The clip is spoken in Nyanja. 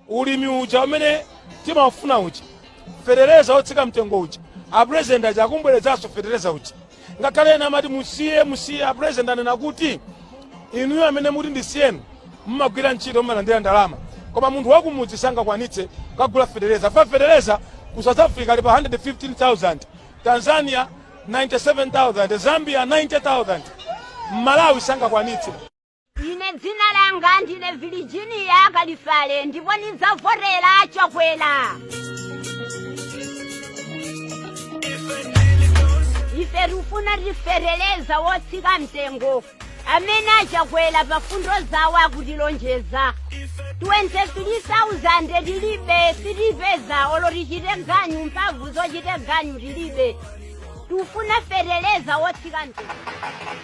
ulimi uja umene timafuna uja fetereza wotsika mtengo uja apurezidenti aja akubweretsanso fetereza uja ngakhale ena amati musiye musiye apurezidenti anena kuti inuyo amene mukuti ndisiyeni mumagwira ntchito mumalandira ndalama koma munthu wakumudzi sangakwanitse kugula fetereza fa fetereza ku south africa ali pa 115000 tanzania 97000 zambia 90000 mmalawi sangakwanitse ine dzina langa ndine virginia kalifale ndipo ndidzavotera a chakwera ife tikufuna tifetereza wotsika mtengo amene a chakwera pa mfundo zawo akutilonjeza 23,000 tilibe sitipeza olo tichite ganyu mphamvu zochitira ganyu tilibe tikufuna fetereza wotsika mtengo